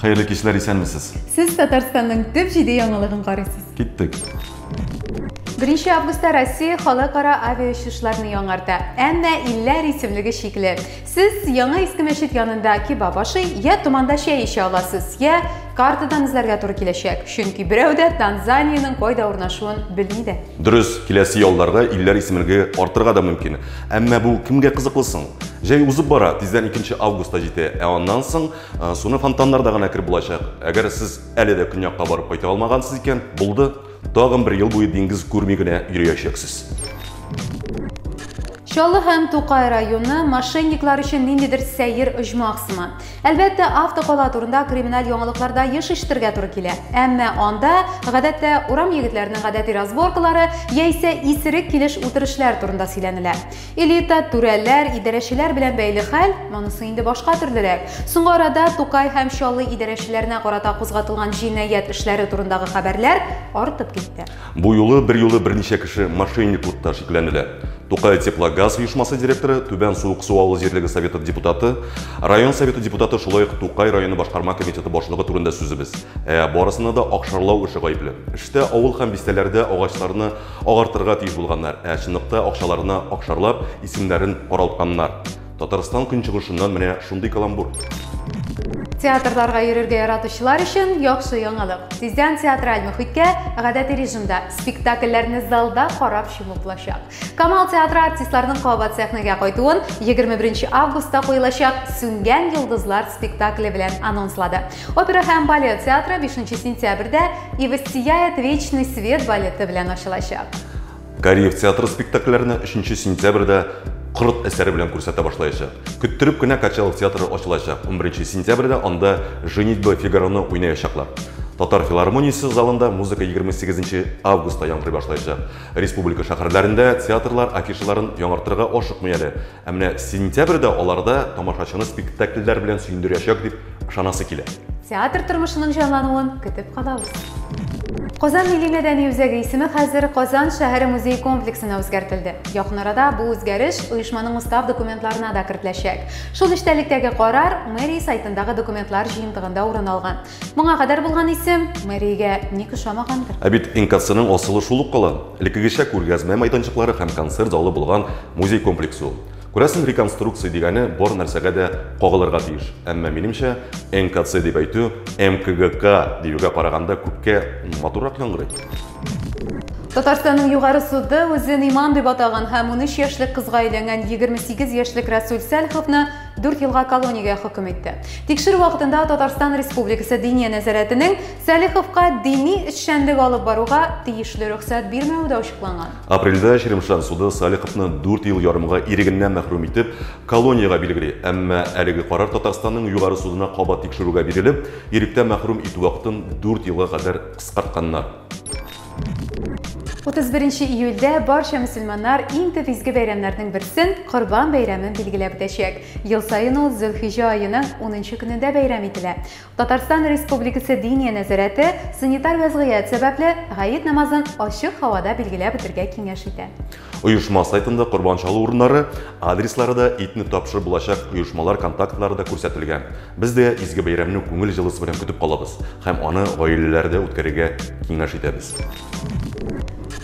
Хәерле кичләр, исәнмесез. Сез Татарстанның төп җиде яңалыгын карыйсыз. Киттек. Беренче августта Россия халыкара авиаучышларны яңарта, әмма илләр исемлеге шикле. Сез яңа иске мәчет янында кебаб ашый, я туманда чәй эчә аласыз, я картадан эзләргә туры киләчәк, чөнки берәү дә Танзаниянең кайда урнашуын белми дә. Дөрес, киләсе ялларда илләр исемлеге артырга да мөмкин. Әмма бу кемгә кызыклы соң? Җәй узып бара, тиздән 2 август та җитә, ә аннан соң э, суны фонтаннарда гына кереп булачак. Әгәр сез әле дә көньякка барып кайта алмагансыз икән, булды. Тагын бер ел буе диңгез күрми генә йөриячәксез. Чаллы һәм Тукай районы мошенниклар өчен ниндидер сәер оҗмах сыман. Әлбәттә, автокала турында криминаль яңалыкларда еш ишетергә туры килә. Әмма анда, гадәттә, урам егетләренең гадәти разборкалары яисә исерек килеш-үтерешләр турында сөйләнелә. Элита, түрәләр, идарәчеләр белән бәйле хәл, монысы инде башка төрлерәк. Соңгы арада Тукай һәм Чаллы идарәчеләренә карата кузгатылган җинаять эшләре турындагы хәбәрләр артып китте. Бу юлы берьюлы берничә кеше мошенниклыкта шикләнелә. Тукай Теплогаз оешмасы директоры, Түбән Суыксу авыл җирлеге советы депутаты, район советы депутаты, шулай ук Тукай районы башкарма комитеты башлыгы турында сүзебез. Ә барысына да акшарлау эше гаепле. Эштә авыл һәм бистәләрдә агачларны агартырга тиеш булганнар, ә чынлыкта акчаларына акшарлап, исемнәрен каралтканнар. Татарстан көнчыгышыннан менә шундый каламбур. Театрларга йөрергә яратучылар өчен яхшы яңалык. Тиздән театраль мөхиткә гадәти режимда спектакльләрне залда карап чуму булачак. Камал театры артистларының кабат сәхнәгә кайтуын 21 августта куелачак Сүнгән йолдызлар спектакле белән анонслады. Опера һәм балет театры 5 сентябрьдә И воссияет вечный свет балеты белән ачылачак. Кариев театры спектакльләрне 3 сентябрьдә Корт әсәре белән күрсәтә башлаячак. Көттереп кенә Качалов театры ачылачак. 11 сентябрьдә анда Женитьба Фигароны уйнаячаклар. Татар филармониясе залында музыка 28 августта яңгырый башлаячак. Республика шәһәрләрендә театрлар афишаларын яңартырга ашыкмый әле. Ә менә сентябрьдә аларда тамашачыны спектакльләр белән сөендерәчәк дип ышанасы килә. Театр тормышының җанлануын көтеп калабыз. Казан милли-мәдәни үзәге исеме хәзер Казан шәһәре музее комплексына үзгәртелде. Якын арада бу үзгәреш оешманың устав документларына да кертеләчәк. Шул эчтәлектәге карар мэрия сайтындагы документлар җыентыгында урын алган. Моңа кадәр булган исем мэриягә ник ошамагандыр? Ә бит НКЦның асылы шул ук кала. Элеккегечә күргәзмә майданчыклары һәм концерт залы булган музей комплексы ул. Күрәсең, реконструкция дигәне бар нәрсәгә дә кагылырга тиеш. Әмма минемчә, НКЦ дип әйтү МКГК диюгә караганда күпкә матуррак яңгырый. Татарстанның югары суды үзен иман дип атаган һәм 13 яшьлек кызга өйләнгән 28 яшьлек Расул Сәлховны дүрт елга колониягә хөкем итте. Тикшерү вакытында Татарстан Республикасы Диния нәзарәтенең Сәлиховка дини эшчәнлек алып баруга тиешле рөхсәт бирмәве дә ачыкланган. Апрельдә Черемшан суды Сәлиховны дүрт ел ярымга ирегеннән мәхрүм итеп, колониягә билгели, әмма әлеге карар Татарстанның югары судына кабат тикшерүгә бирелеп, иректә мәхрүм итү вакытын дүрт елга кадәр кыскартканнар. 31 июльдә барча мөселманнар иң төп изге бәйрәмнәрнең берсен, Корбан бәйрәмен билгеләп үтәчәк. Ел саен ул Зөлхиҗә аеның 10 көнендә бәйрәм ителә. Татарстан Республикасы Диния нәзарәте санитар вәзгыять сәбәпле Гает намазын ачык һавада билгеләп үтергә киңәш итә. Оешма сайтында корбан чалу урыннары, адреслары да, итне тапшырып булачак оешмалар контактлары да күрсәтелгән. Без дә изге бәйрәмне күңел җылысы белән көтеп калабыз һәм аны гаиләләрдә үткәрергә киңәш итәбез.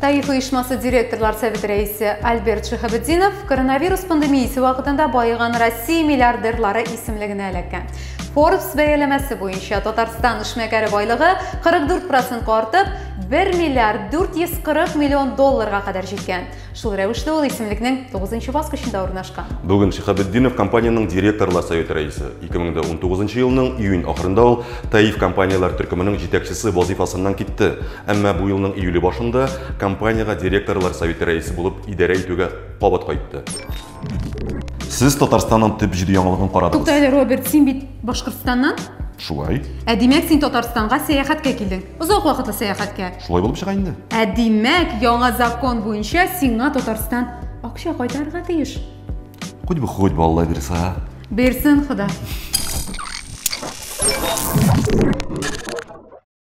Таиф оешмасы директорлар советы рәисе Альберт Шиһабетдинов коронавирус пандемиясе вакытында баеган Россия миллиардерлары исемлегенә эләккән. Forbes бәяләмәсе буенча Татарстан эшмәкәре байлыгы 44 процентка артып, 1 миллиард 440 миллион долларга кадәр җиткән. Шул рәвешле ул исемлекнең 9 баскычында урнашкан. Бүген Шихабетдинов компаниянең директорлар советы рәисе. 2019 елның июнь ахырында ул Таиф компанияләр төркеменең җитәкчесе вазыйфасыннан китте. Әмма бу елның июле башында компаниягә директорлар советы рәисе булып идарә итүгә кабат кайтты. Сез Татарстанның төп җиде яңалыгын карадыгыз. Тукта әле, Роберт, син бит Башкортстаннан? Шулай. Ә димәк, син Татарстанга сәяхәткә килдең. Озак вакытлы сәяхәткә. Шулай булып чыга инде. Ә димәк, яңа закон буенча сиңа Татарстан акча кайтарырга тиеш. Хоть бы хоть бы Алла бирса. Бирсен Хода.